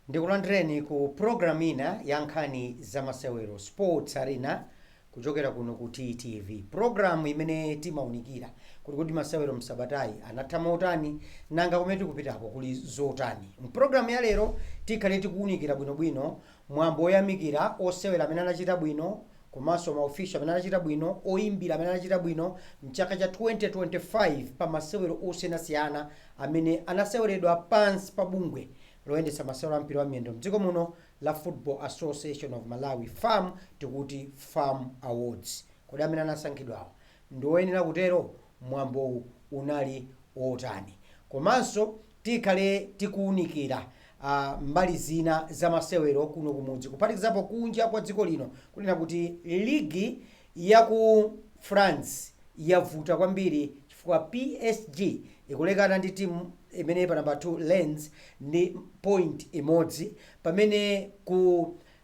ndikulandireni ku programu ina ya nkhani za masewero sports arena Kuchokera kuno ku TTV, programu imene timaunikira kuti kodi masewero m'sabatayi anatha motani, nanga kumene tikupitako kuli zotani. M'programu ya lero tikhale tikuunikira bwinobwino mwambo woyamikira osewera amene anachita bwino komanso ma official amene anachita bwino, oyimbira amene anachita bwino m'chaka cha 2025 pa masewero osiyanasiyana amene anaseweredwa pansi pa bungwe loyendetsa masewero a mpira wa miyendo m'dziko muno, la Football Association of Malawi, fam, tikuti fam awards. Kodi amene anasankhidwawo ndi oyenera kutero? Mwambowu unali otani? Komanso tikhale tikuunikira a mbali zina za masewero kuno kumudzi kuphatikizapo kunja kwa dziko lino kunena kuti ligi yaku France yavuta kwambiri. chifukwa psg ikulekana ndi team imene ili pa number 2 Lens ndi point imodzi pamene ku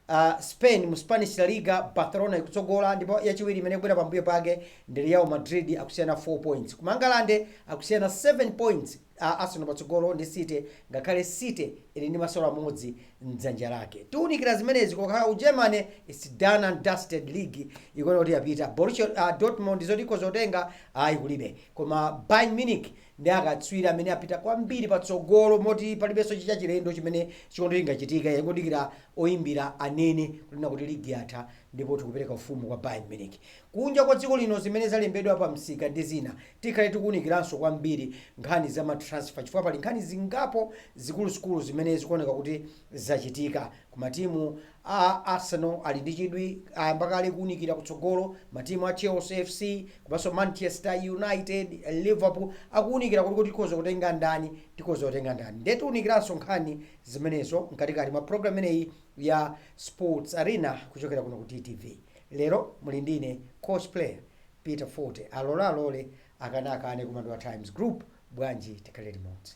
uh, Spain mu Spanish La Liga Barcelona ikutsogola ndipo yachiwiri imene ikubwera pambuyo pake ndi Real Madrid akusiyana 4 points ku Mangalande akusiyana 7 points a Arsenal patsogolo ndi City ngakhale City ili ndi masewero amodzi mdzanja lake. Tiunikira zimenezi kokhala ku Germany it's done and dusted league ikuona kuti yapita. Borussia uh, Dortmund zoti ikhoza kutenga ayi kulibe. Koma Bayern Munich ndi akatswiri amene apita kwambiri patsogolo moti palibenso chichachilendo chimene chikhoza chingachitike yangodikira oyimbira anene kunena kuti ligi yatha ndipo tikupereka ufumu kwa Bayern Munich. kunja kwa dziko lino zimene zalembedwa pa msika ndi zina. Tikhale tikuwunikiranso kwambiri nkhani za ma transfer chifukwa pali nkhani zingapo zikuluzikulu zimene zikuoneka kuti zachitika ku matimu a Arsenal ali ndi chidwi ayamba kale kuwunikira kutsogolo, matimu a Chelsea FC komanso Manchester United, Liverpool akuwunikira kuti kodi tikhoza kutenga ndani, tikhoza kutenga ndani. Ndiye tiwunikiranso nkhani zimenezo mkatikati mwa program imeneyi ya Sports Arena kuchokera kuno ku TTV. Lero muli ndi ine coach player Peter Fote alole alole akane akane koma ndi wa times group bwanji tikhale limodzi.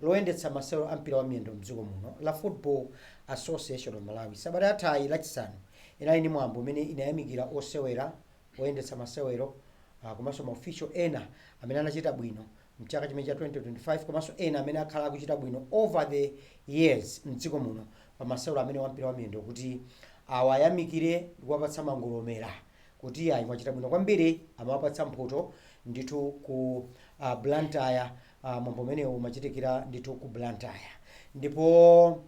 loyendetsa masewero a mpira wa miyendo mdziko muno la Football Association of Malawi sabata yathayi lachisanu inali ndi mwambo umene linayamikira osewera, oyendetsa masewero ah, komanso ma official ena amene anachita bwino mchaka chimene cha 2025 komanso ena amene akhala akuchita bwino over the years mdziko muno pa masewero amene wampira wa miyendo kuti awayamikire ndi kuwapatsa mangolomera kuti ayi mwachita bwino kwambiri amawapatsa mphoto ndithu ku ah, Blantyre Uh, mwambo umenewu umachitikira ndithu ku Blantyre ndipo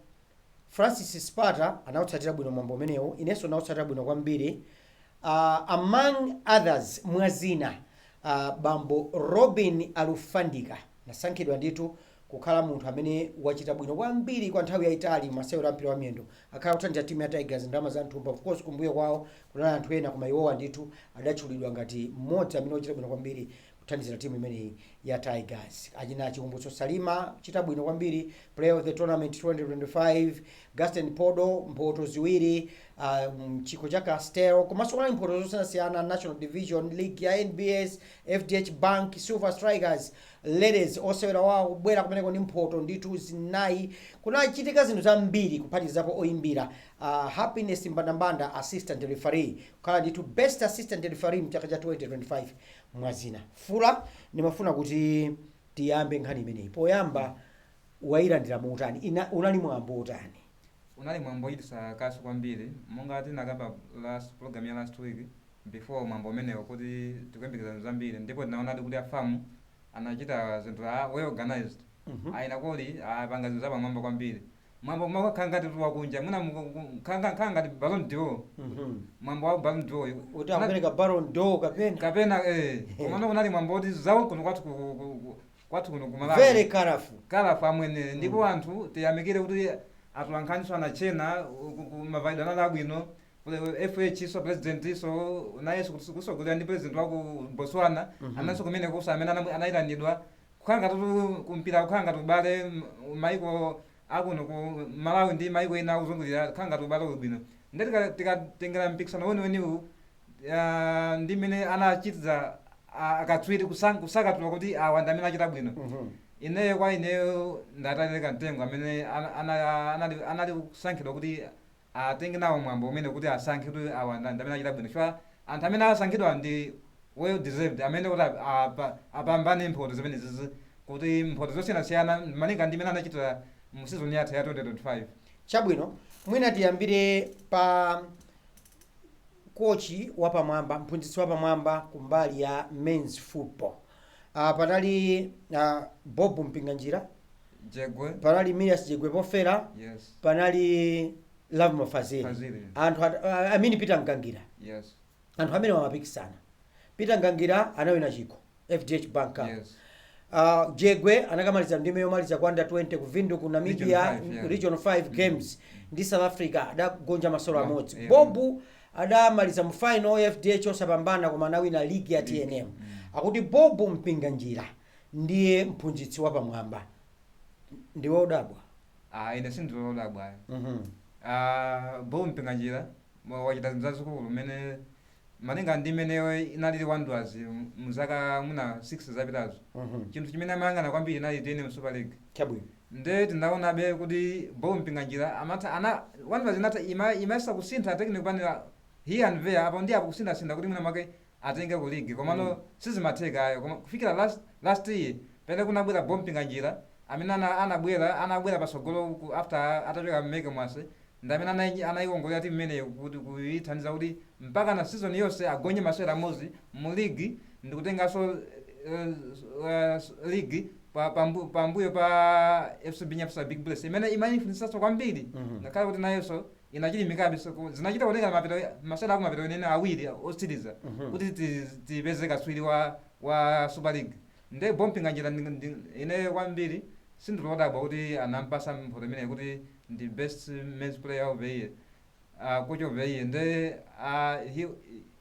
Francis Spata anautsatira bwino mwambo umenewu, inenso nautsatira bwino kwambiri. Uh, among others mwa zina uh, bambo Robin Alufandika anasankhidwa ndithu kukhala munthu amene wachita bwino kwambiri kwa nthawi yayitali masewero a mpira wa miyendo akhala akuthandiza timu ya Tigers ndalama za mthumba. Of course kumbuyo kwawo kunali anthu ena koma iwowa ndithu adatchulidwa ngati mmodzi amene wachita bwino kwambiri kuthandizira timu imeneyi ya Tigers. Achina Chikumbutso Salima achita bwino kwambiri player of the tournament 2025 Gastin Phodo mphoto ziwiri uh, mchikho cha Castel komanso kunali mphoto zosiyanasiyana National Division League ya NBS FDH Bank Silver Strikers ladies osewera wawo kubwera kumeneko ndi mphoto ndithu zinayi kunachitika zinthu zambiri kuphatikizapo oyimbira uh, Happiness Mbandambanda assistant referee kukhala ndithu best assistant referee mchaka cha 2025 Mwazina, Fula, ndimafuna kuti tiyambe nkhani imeneyi. Poyamba wailandira motani? unali mwambo wotani? Unali mwambo wochititsa kaso kwambiri. Monga tinakamba last, program ya last week, before mwambo umenewu kuti tikuyembekeza zinthu zambiri ndipo tinaonadi kuti a FAM anachita zinthu, a well organised, a Inno Kholi apanga zinthu zapamwamba kwambiri. mwambo mwakhala ngati wakunja mwina mu- mu- mu- khala nga- khala ngati Ballon d'Or Mhm. mwambo wa Ballon d'Or uyu uti akupereka Ballon d'Or kapena kapena eh komano kunali mwambo oti zawo kuno kwathu ku- ku- ku- ku- kwathu kuno ku Malawi. very colorful kalafu amwene ndipo anthu tiyamikire kuti atolankhaniso anachena ku- ku- mavalidwe anali abwino fh so president so nayeso kusogolera ndi president waku botswana Mhm. analinso kumenekuso amene anamu- anayitanidwa kukhala ngatitu ku mpira kukhala ngati ubale mm, maiko akuno ku malawi ndi maiko ena akuzungulira kukhala ngati ubale uli bwino nde tika- tikatengera mpikisano weniweniwu ah, ndi mmene anachitira ah, akatswiri kusan- kusakatula kuti awa ndi amene achita bwino ineyo kwa ineyo nditawaikira mtengo amene ana- ana- anali anali kusankhidwa kuti atenge nawo mwambo umene kuti asankhe kuti awa ndi amene achita bwino chifukwa anthu amene asankhidwa ndi well deserved amene kuti ap- apa- apambane mphoto zimenezi kuti mphoto zosiyanasiyana malinga ndi mmene anachitira mu season yatha ya 2025 chabwino mwina tiyambire pa kochi wapamwamba mphunzitsi wapamwamba kumbali ya men's football Ah, panali ah, Bob Mpinganjira Yekwe panali Millias Jegwe pofera yes panali Lovemore Fazili Fazili. anthu at- ah, amene Peter Mgangira yes anthu amene amapikisana peter mgangira anawina chikho fdh bank Cup. yes Ah, jegwe anakamaliza ndime yomaliza ku under 20 ku vindu ku namibia Region five, yeah. region 5 games ndi south africa adagonja masolo Yeah, amodzi yeah. bobu adamaliza mu final FDH osapambana koma anawina league ya tnm akuti bob mpinganjira ndiye mphunzitsi wapamwamba ndiwe odabwa ah ine sindili odabwa Mhm. ah Bob Mpinganjira mwa- wachita zinthu zazikulu mmene malinga ndi mmene inalili wanderers mu- mu zaka mwina 6 zapitazo Mhm. chinthu chimene amayang'ana kwambiri inali tnm super league chabwino Nde tinaonabe kuti Bob Mpinganjira amatha ana Wanderers inatha ima imayesa kusintha technical panel here and there apo ndi apo kusintha sintha kuti mwina mwake atengeko league komano sizimatheka ayi koma kufikira last last year pamene kunabwera Bob Mpinganjira amene ana anabwera anabwera patsogolo ku after atachoka Meke Mwase ndi amene anai anaiongolera team imeneyo kuti kuithandiza kuti mpaka na season yonse agonye masewera amodzi mu league ndikutenganso uh, uh, league pa pambu- pambuyo pa fcb Nyasa big bullets imene imaifunitsanso kwambiri Mhm. ngakhale kuti nayonso inachilimikabe so ku- zinachita kutengera mapeto masewera aku mapeto eni eni awiri otsiriza Mhm. kuti ti- tipeze katswiri wa wa super league nde Bob Mpinganjira ndi- ndi- ine kwambiri sindili odabwa kuti anampasa mphoto imeneyi kuti ndi best men's player of the year Ah, coach of the year nde ah, he,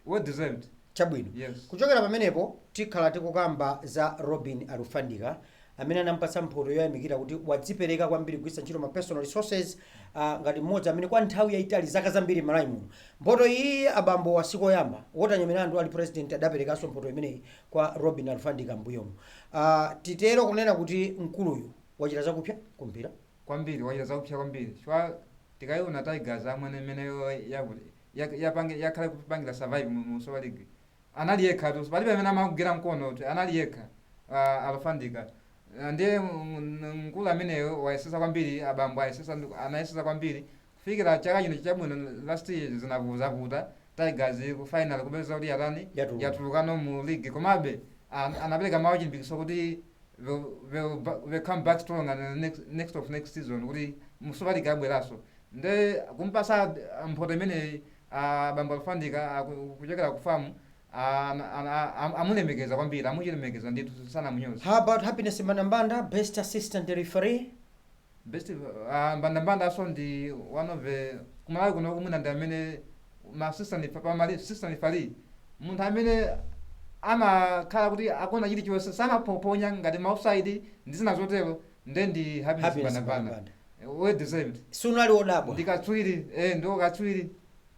well deserved chabwino Yes. kuchokera pamenepo tikhala tikukamba za robin alufandika amene anampatsa mphoto yoyamikira kuti wadzipereka kwambiri kugwiritsa ntchito ma personal resources uh, ngati mmodzi amene kwa nthawi yayitali zaka zambiri Malawi muno mphoto iyi abambo a Walter Nyamilandu ali president adaperekanso mphoto imeneyi kwa robin alufandika mbuyomu uh, titero kunena kuti mkuluyu wachita zakupsa kumpira kwambiri wachita zakupya kwambiri chifukwa tikaiona tigers amwene mmene iyo yavu- yak- yapange- yakhala kupangila survive mu mu super league anali yekha tu palibe amene amamugwira mkono kuti anali yekha uh, Alufandika Uh, ndiye mm, mkulu ameneyo wayesesa kwambiri abambo ayesesa ndi- anayesesa kwambiri Kufikira chaka chino chabwino last year zinadzavuta Tigers ku final kupeza kuti yatani Yatuluka. yatulukano mu league komabe an, anapereka mawu achilimbikitso kuti they'll, they'll, ba- they'll come back strong and the next, next of next season kuti mu super league abweraso nde kumpasa ah, mphoto imeneyi ah, bambo alufandika ah, ku- kuchokera ku famu ah, ana- ana- am- amulemekeza kwambiri amuchilemekeza ndithu sanamunyoza How about Happiness Mbandambanda, Best Assistant Referee? Best ah, Mbandambanda so ndi one of the ku Malawi kuno kumuona ndi amene ma assistant pa pa ma assistant referee munthu amene amakhala kuti akona chili chonse samaphophonya ngati ma offside ndi zina zotero nde ndi Happiness Happiness Mbandambanda Mbandambanda. well deserved sinali odabwa ndi katswiri eh ndi katswiri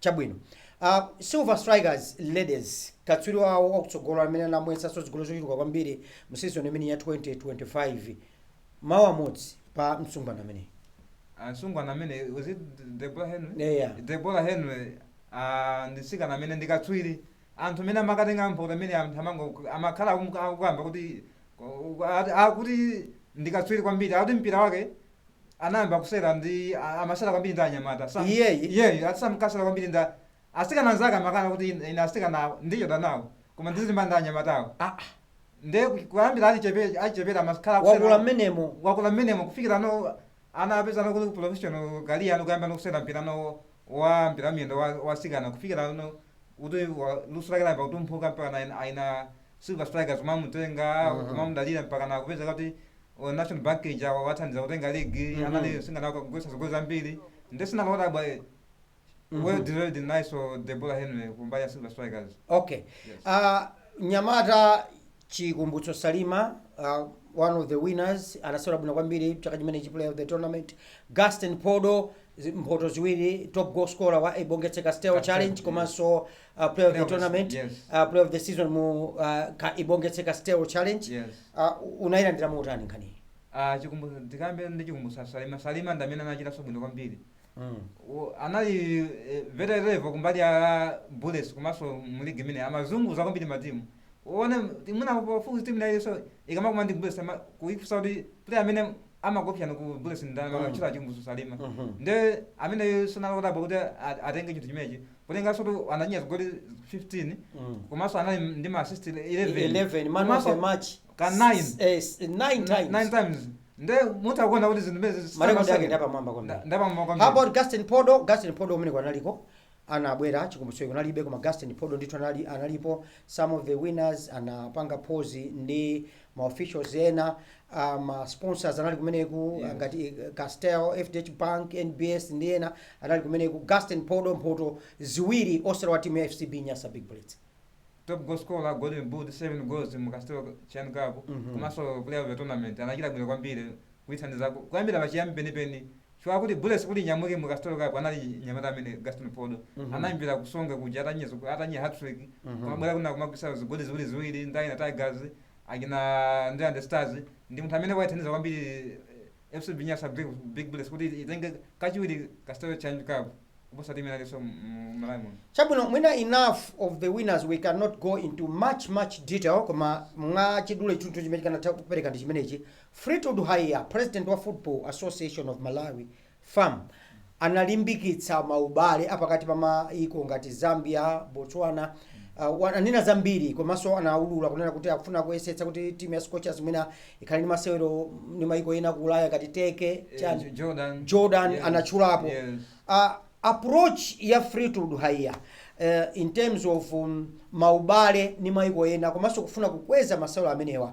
Chabwino. Uh, Silver Strikers ladies katswiri wawo wakutsogolo amene anamwetsanso zigoli zochuluka kwambiri mu season imeneyi ya 2025 mawu amodzi pa msungwana ameneyu. msungwana amene was it Deborah Henry Yeah, yeah. Deborah Henry ah, ndi mtsikana amene ndi katswiri anthu mmene amakatenga mphoto amene anthu amango- amakhala akumu- akukamba kuti ku- ati- akuti ndi katswiri kwambiri akuti mpira wake anayamba kusewera ndi a- amasewera kwambiri ndi anyamata Sam- Iyeyu? iyeyu ati samkasewera kwambiri ndi a- asikana anzake amakana kuti ine ine asikana awo ndichedwa nawo koma ndiziimba ndi anyamatawo Ah, ah. nde ku- kuyambira achichepere achichepere amakhala kusewera wakula mmenemo wakula mmenemo kufikira no ana apeza no kuti professional career ano kuyamba no kusewera mpira no wa mpira miyendo wa- wasikana kufikira no kuti wa- luso lake layamba kutumphuka mpaka na aina Silver Strikers kumamutenga Mhm. kumamudalira mpaka na kupeza kuti o National Bank ija wawathandiza kutenga league Mhm. anali mtsikana kumwetsa zigoli zambiri nde sinali odabwa eh, Mhm. well deserved nayenso Deborah Henry kumbali ya Silver Strikers okay Yes. uh, nyamata Chikumbutso Salima uh, one of the winners anasewera bwino kwambiri chaka chimenechi player of the tournament Gaston Podo zi- mphoto ziwiri top goal scorer wa Ibongetse Castel Castel, Challenge yes. komanso uh, player of the tournament yes. uh, player of the season mu uh, ka, Ibongetse Castel Challenge yes. uh, unayilandira motani nkhaniyi Ah, Chikumbutso tikambe ndi Chikumbutso Salima Salima ndi amene anachitanso bwino kwambiri mm. U- anali eh, very lethal kumbali ya Bullets komanso mu league imene amazunguza kwambiri matimu uone imuna pafupi timu nayonso ikamakumana ndi Bullets ama- kuifunsa kuti player amene amakuopsyani ku Bullets ndani amatchula Chikumbutso Salima Mhm. nde amene sinali odabwa kuti a- atenge chinthu chimenechi kutengeranso kuti anamwetsa zigoli 15 Mm. komanso anali ndi ma assist 11 11 man of Komanso the match ka nine. eh, 9 nine times times nde mutha kuona kuti zinthu zimenezi Ma record ake ndi apamwamba kwambiri. ndapamwamba How about kwambiri Gaston Podo? Gaston Podo uyu amene analiko anabwera Chikumbutso kunalibe koma Gaston Podo ndithu anali analipo some of the winners anapanga pose ndi ma officials ena uh, ma sponsors anali kumeneku yes. ngati eh, Castel, FDH Bank, NBS ndi ena anali kumeneku Gaston Podo mphoto ziwiri osewera wa timu ya FCB Nyasa Big Bullets top goal scorer golden boot 7 goals mu Castel Challenge Cup Mhm. komanso player of the tournament anachita bwino kwambiri kuithandiza ku- kuyambira pachiyambi penipeni chifukwa akuti Bullets kuti inyamuke mu Castel Cup anali mnyamata amene Gaston Phodo anayambira ku Songwe kuja atamenya zigo- atamenya hat-trick kumabwera kuno kumagwisa zigoli ziwiri ziwiri ndi achina Tigers achina Ndirande Stars ndi munthu amene waithandiza kwambiri eh, FCB Nyasa Big, Big Bullets kuti itenge kachiwiri Castel Challenge Cup kuposa timu ina iliyonse mu Malawi muno chabwino mwina enough of the winners we cannot go into much much detail koma mwa chidule chinthu chimene tikanatha kupereka ndi chimenechi Fleetwood Haiya, president wa Football Association of Malawi, FAM, analimbikitsa maubale apakati pa mayiko ngati Zambia, Botswana, uh, anena zambiri komanso anaulula kunena kuti akufuna kuyesetsa kuti timu ya Scorchers mwina ikhale ndi masewero ndi mayiko ena ku Ulaya ngati Turkey, Eh, chani, J- Jordan. Jordan Yes, anatchulapo yes. uh, approach ya Fleetwood Haiya uh, in terms of um, maubale ni maiko ena komanso kufuna kukweza masewero amenewa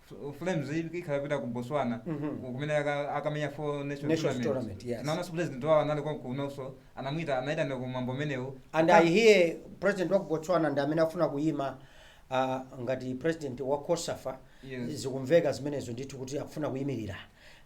F- flames i- ikhala ikupita ku botswana Mhm. ku- kumene aka- akamenya four nation Nations tournament, tournament yes. naonanso president wao anali konkunoso anamwita anaitana ku mwambo umenewu and i hear president wa ku botswana ndi amene afuna kuyima ah, ngati president wa cosafa Yes. zikumveka zimenezo ndithu kuti akufuna kuyimirira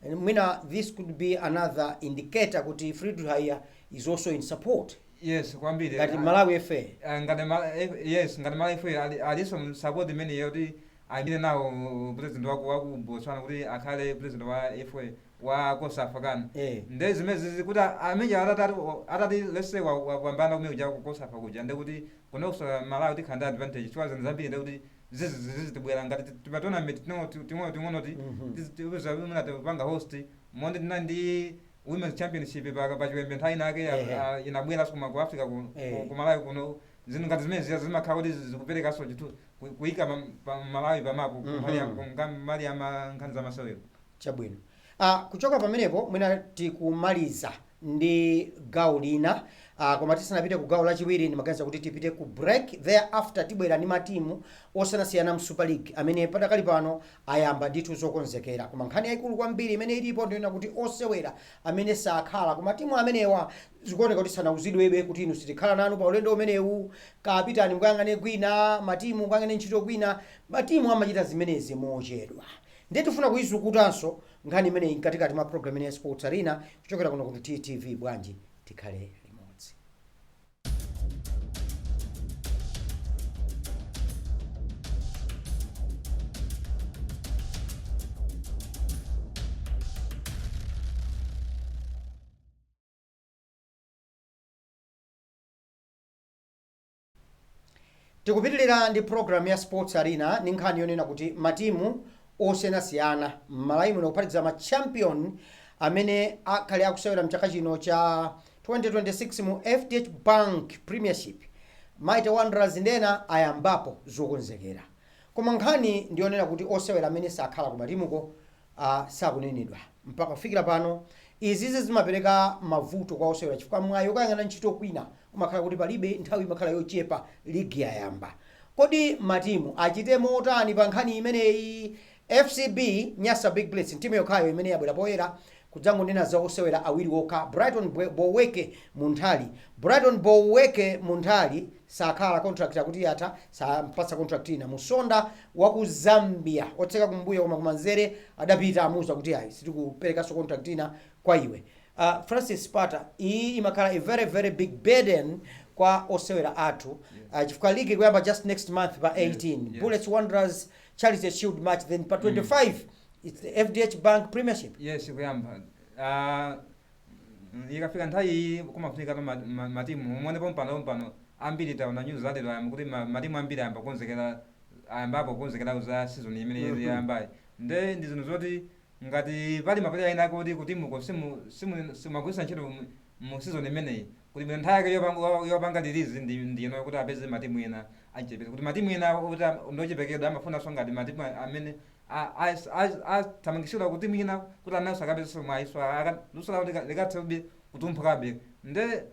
And mwina this could be another indicator kuti fleetwood haiya is also in support yes kwambiri ngati Ah, malawi fa ah, ngati ma- eh, yes ngati malawi fa ali- aliso m'support imeneyo kuti ayimile nawo president waku waku Botswana kuti akhale president wa FA wa cosafa kan ee nde zimenezi kuti ameneyo atati atati let's say wa wapambana kumene kuja ku cosafa kuja nde kuti kunokoso Malawi tikhala ndi advantage chifukwa zinthu zambiri nde kuti zizi zizitibwela ngati ti tima tournament ting'ono ti ting'ono ting'ono ti mhm tizi ti uza mwina tipanga host monga tinali ndi women's championship pa pa chiwembe nthawi inayake ija ehe a inabwelaso koma ku Africa ku ku eeh ku Malawi kuno zinthu ngati zimene zija zimakhala kuti zi zikupelekaso chithu ku- kuyika pa- pa malawi pamapu Mhm. mbali ya- nga mbali ya ma- nkhani za masewero chabwino ah, kuchoka pamenepo mwina tikumaliza ndi gawo lina ah, koma tisanapite ku gawo lachiwiri ndimaganiza kuti tipite ku break thereafter tibwera ndi matimu osiyanasiyana mu super league amene padakali pano ayamba ndithu zokonzekera koma nkhani yayikulu kwambiri imene ilipo ndi yonena kuti osewera amene sakhala ku matimu amenewa zikuoneka kuti sanauzidwebe kuti inu sitikhala nanu pa ulendo umenewu Kaya pitani mukayang'ane kwina, matimu mukayang'ane ntchito kwina, matimu amachita zimenezi mochedwa. Ndiye tifuna kuizukutanso nkhani imeneyi mkatikati mwa program ino ya Sports Arena kuchokera kuno ku TTV bwanji tikhale limodzi. tikupitilira ndi program ya sports arena ndi nkhani yonena kuti matimu osiyanasiyana m'malawi muno kuphatikiza ma champion amene akhale akusewera mchaka chino cha 2026 mu fdh bank premiership mighty wanderers ndi ena ayambapo zokonzekera koma nkhani ndiyonena kuti osewera amene sakhala ku matimuko sakunenedwa mpaka kufikira pano. Izizi zimapereka mavuto kwa osewera chifukwa mwayi okayang'ana ntchito kwina umakhala kuti palibe, nthawi imakhala yochepa ligi yayamba. Kodi matimu achite motani pa nkhani imeneyi? FCB Nyasa Big Bullets n'timu yokhayo imene yabwera poyera kudzangonena za osewera awiri okha, Brighton Boweke Munthali, Brighton Boweke Munthali, sakhala, contract akuti yatha, sampatsa contract ina. Musonda waku Zambia, otseka kumbuyo koma kumanzere, adapita amuuza kuti ayi sitikuperekanso contract ina kwa iwe. Uh, Francis Pata, iyi imakhala a very very big burden kwa osewera athu uh, chifukwa league ikuyamba just next month pa 18 yes. Bullets Wanderers Charity Shield match then pa 25 it's the FDH Bank Premiership. Yes, ikuyamba. Uh, Mm, ikafika nthawi iyi kumafunika pa ma- ma- matimu muone pompano pompano ambiri taona news za lero kuti ma- matimu ambiri ayamba kukonzekera ayambapo kukonzekera za season imene Mhm. yayambayi nde ndi zinthu zoti ngati pali mapuleya ena kuti kutimuko simu- simu- simuwagwiritsa ntchito mu- mu season imeneyi Kuli bwino nthawi yake yopanga yopanga release ndi ndi ino kuti apeze matimu ena achichepere kuti matimu ena kuti ndi ochepekedwa amafunanso ngati matimu amene athamangitsidwa ku timu ina kuti nawonso akapezenso mwayinso luso lawo likathe kuti kutumphukabe nde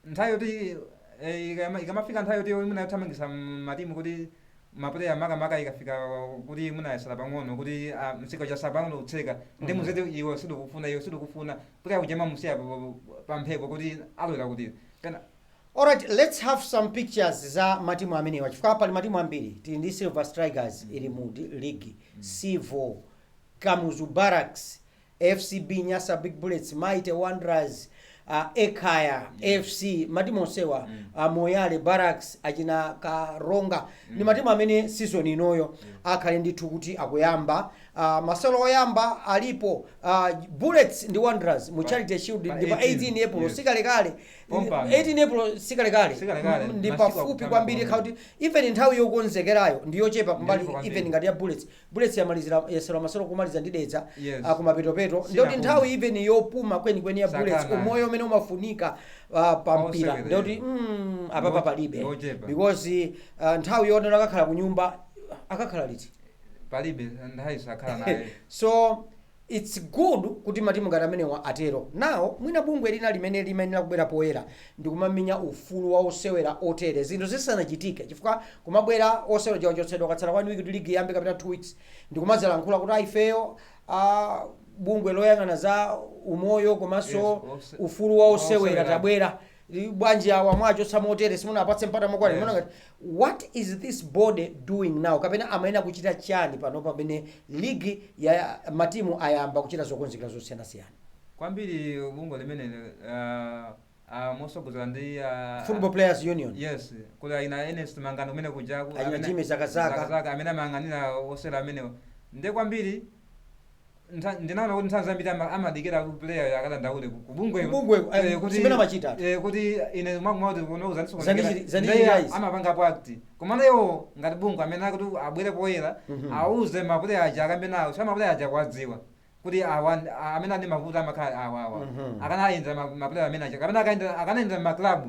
nthawi yoti e, ikamafika nthawi yoti mwina yothamangitsa matimu kuti mapuleya makamaka ikafika kuti mwina yatsala pang'ono kuti ah, msika watsala pang'ono kutseka ndikumuuza kuti iwe sitikufuna iwe sitikufuna puleya uja mwamusiya pa- pa- pa mphepo kuti alowera kuti pena Alright, let's have some pictures za matimu amenewa chifukwa pali matimu ambiri tili ndi silver strikers ili mu di- league civo kamuzu barracks FCB Nyasa Big Bullets, Mighty Wanderers, ah, Ekhaya FC, matimu onsewa ah, Moyale Barracks, achina Karonga ndi matimu amene season inoyo akhale ndithu kuti akuyamba ah, masewero oyamba alipo ah, Bullets ndi Wanderers mu Charity Shield pa ndi pa 18, 18 April yes. sikalekale Pompano. 18 April sikalekale Sikalekale, ndi masiku pafupi akutamba kwambiri kwambiri. kuti even nthawi yokonzekerayo ndi yochepa kumbali Ndipo kwambiri. even ngati ya Bullets Bullets yamalizira masewero kumaliza ndi Dedza Yes. ah, kumapetopeto Sina ndoti bwino. nthawi even yopuma kwenikweni ya Sakana. Bullets umoyo umene umafunika ah, pa Onse mpira wethe. ndoti mm, apapa Ngoche- palibe ngochepa. because ah, nthawi yonena akakhala ku nyumba akakhala liti palibe nthawi sakhala nayonso It's good kuti matimu ngati amenewa atero. Now mwina bungwe lina limene limayenera kubwera poyera ndikumamenya ufulu wa osewera otere zinthu zisanachitike chifukwa kumabwera osewera aja achotsedwa kwatsala 1 week kuti league iyambe kapena 2 weeks ndikumadzalankhula kuti ah ifeyo ah bungwe loyang'ana za umoyo komanso ufulu wa osewera tabwera bwanji awa mwachotsa motere simunawapatse mpata mokwanira Yes. Muona ngati What is this body doing now kapena amayenera kuchita chani panopa pamene ligi ya matimu ayamba kuchita zokonzekera zosiyanasiyana. kwambiri bungwe limeneli uh, uh, motsogozedwa ndi uh, Football Players Union. yes kuli aina Ernest Mangani kumene kuja aina Jimmy Zakazaka amene amayang'anira osewera amenewo ndiye kwambiri Ntha- ndinaona kuti nthawi zambiri ama- amadikira kuti player akadandaule ku- ku bungweko. Ku bungweko, eh, Eh, kuti- zimene amachita. eh, kuti ine mwakumwa kuti kuno uzandisokonekera. Zandichi- zandichi Ndiye amapangapo act komano iwo ngati bungwe amene akuti abwere poyera auze mapuleya aja akambe nawoso mapuleya aja akuwadziwa kuti awa ndi- a- amene ali ndi mavuto amakhala awawa Mhm. akanayendera ma- mapuleya amene aja kapena akayendera- akanayendera maklabu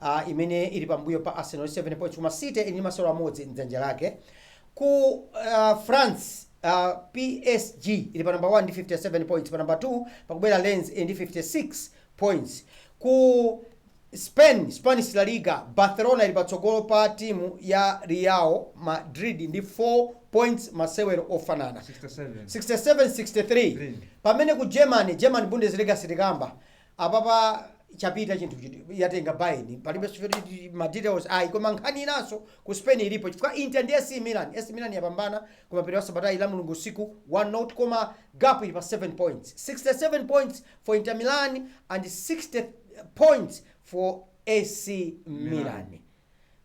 a imene ili pambuyo pa Arsenal ndi 7 points koma City ili ndi masewero amodzi m'dzanja lake. Ku uh, France uh, PSG ili pa number 1 ndi 57 points, pa number 2 pakubwera Lens ili ndi 56 points. Ku Spain, Spanish La Liga, Barcelona ili patsogolo pa timu ya Real Madrid ndi 4 points masewero ofanana 67-63 pamene ku germany german bundesliga sitikamba apapa chapita chinthu yatenga Bayern palibe ma details ayi koma nkhani inanso ku spain ilipo chifukwa inter ndi ac milan ac milan yapambana komwe pa sabata la mulungu usiku 1 nil koma gap ili pa 7 points 67 points for inter milan and 60 points for ac milan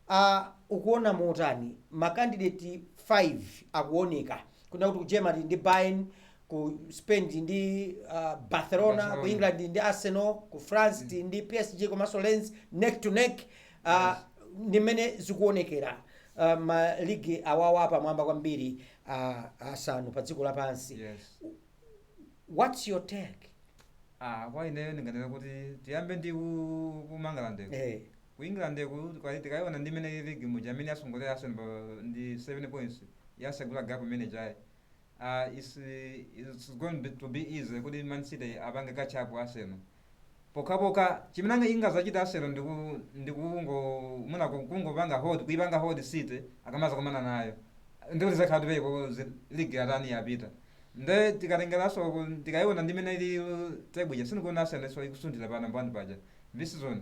a ukuona motani ma candidate 5 akuoneka kunena kuti ku germany tili ndi bayern ku spain tili ndi uh, barcelona ku england tili ndi arsenal ku france tili ndi psg komanso lens neck to neck uh, ndi mmene zikuonekera uh, maligi awawa apamwamba kwambiri uh, asanu pa dziko lapansi yes what's your take ah kwa ineyo ndinganena kuti tiyambe ndi ku- ku Mangalandeko eh. Ku England ku kwa- tikaiona ndi mmene ilili muja yatsogolera Arsenal ndi 7 points yasegula gap imene ija it's going to be easy kuti Man City apange catch up Arsenal pokhapokha chimene anga- ingazachita Arsenal ndi ku- ndi kungo mwina ku- kungopanga hold kuipanga hold City akamazakumana nayo ndikuti izakhala kuti league yatani yapita nde tikatengeranso ku- tikaiona ndi mmene ilili table ija sindikuona Arsenalso ikusunthira pa namba 1 paja this season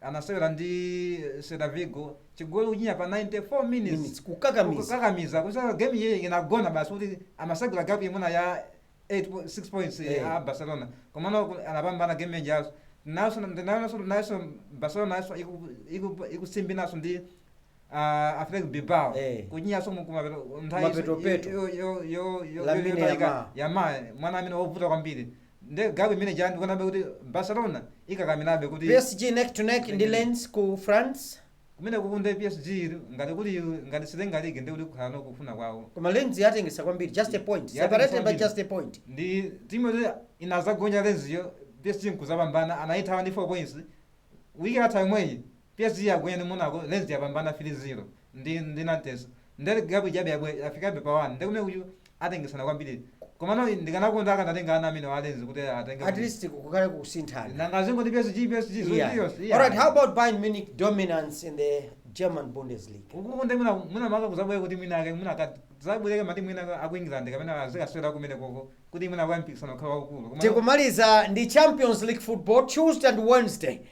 anasewera ndi Celta Vigo chigoli kuchinya pa 94 minutes Minutes, kukakamiza. kukakamiza kuti game iyi inagona basi kuti amasagula gap imene ya 8 po- 6 points Eh. ya Barcelona komano ku- anapambana game yadzanayo nayonso ndinayionanso nayonso Barcelona nayonso iku- iku- ikusimbinaso ndi uh, Athletic Bilbao Eh. kuchinyanso kumapeto Mapeto peto. Lamine Yamal. yama mwana amene wovuta kwambiri nde gap imene ija ndikuonabe kuti barcelona ikakamirabe kuti PSG neck to neck ndi Lens ku France. kumene kukunde psg ili, ngati kuli ngati satenga ligi ndi kuti kukhalano kufuna kwawo Koma Lens yatengesa kwambiri just a point. Yatengesa Separated by kwambiri. just a point. ndi timu yoti inazagonja Lens-yo psg nkuzapambana anayithawa ndi 4 points wiki yatha yomweyi Psg yagonja ndi Monaco, Lens yapambana 3 0 ndi ndi Nantes nde gap ijabe yabwera yafikabe pa 1 nde kumeneko atengesana kwambiri komano ndikanakonda akanatenga ana amenewa a Lens kuti atenge at least league. kukhale kusinthana Nanga zingoti PSG PSG zoti Yeah. yonse. All right, how about Bayern Munich dominance in the German Bundesliga? ukuku nde mwina mwina maka kuzabwera kuti mwina ake mwina ka- zabwereka mati mwina aku England kapena azikasewera kumeneko kuti mwina mpikisano ukhala waukulu. Koma- Tikumaliza ndi Champions League football Tuesday and Wednesday.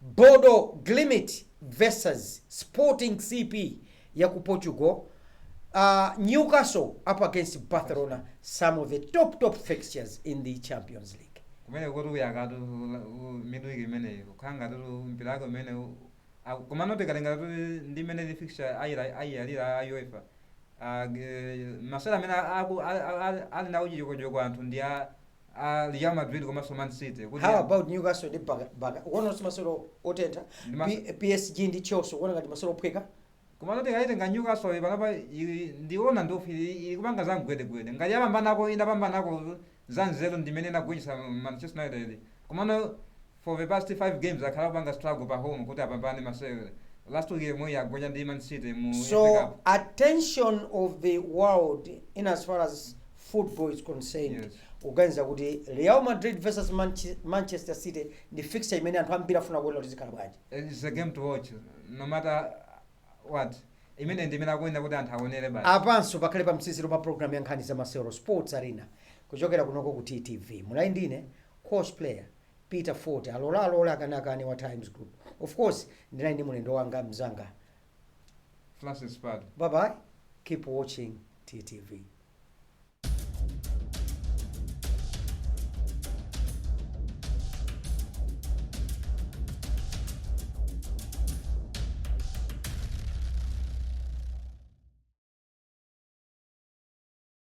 Bodo Glimt vs Sporting CP ya ku Portugal uh, Newcastle up against Barcelona some of the top top fixtures in the Champions League kumeneku kuyakatu midweek imeneyi kukhala ngati mpira wake umene u- aku- komano tikalinga kuti ndi imene fixture ayira- ayiyalira a uefa Ah, ge- masewera amene aku- a- a- a- ali nawo chijokochoko anthu ndi a a Real Madrid komanso Man City kuti how about newcastle ndi Barca- Barca ukuona kuti masewero otentha Ndi ma- P- psg ndi chelsea ukuona ngati masewero ophweka komano tikayitenga Newcastle panopa ili- ndiona ngati ili ili kupanga za mgwedegwede ngati yapambanako inapambanako za nzeru ndimene inagonjetsa Manchester United komano for the past 5 games akhala akupanga struggle pa home kuti apambane masewero, last week yomweyi agonja ndi man city mu FA cup. so attention of the world in as far as football is concerned Yes. ukuganiza kuti real madrid versus Manche- manchester city ndi fixture imene anthu ambiri afuna kuona kuti zikhala bwanji It's a game to watch no matter what imene ndi imene akuyenera kuti anthu aonere basi apanso pakhale pa mtsiziro pa programu ya nkhani za masewero sports arena kuchokera kunoko ku ttv munali ndi ine coach player Peter Fote alole alole akane akane wa Times Group of course ndinali ndi mlendo wanga mzanga Francis Pali. bye bye keep watching TTV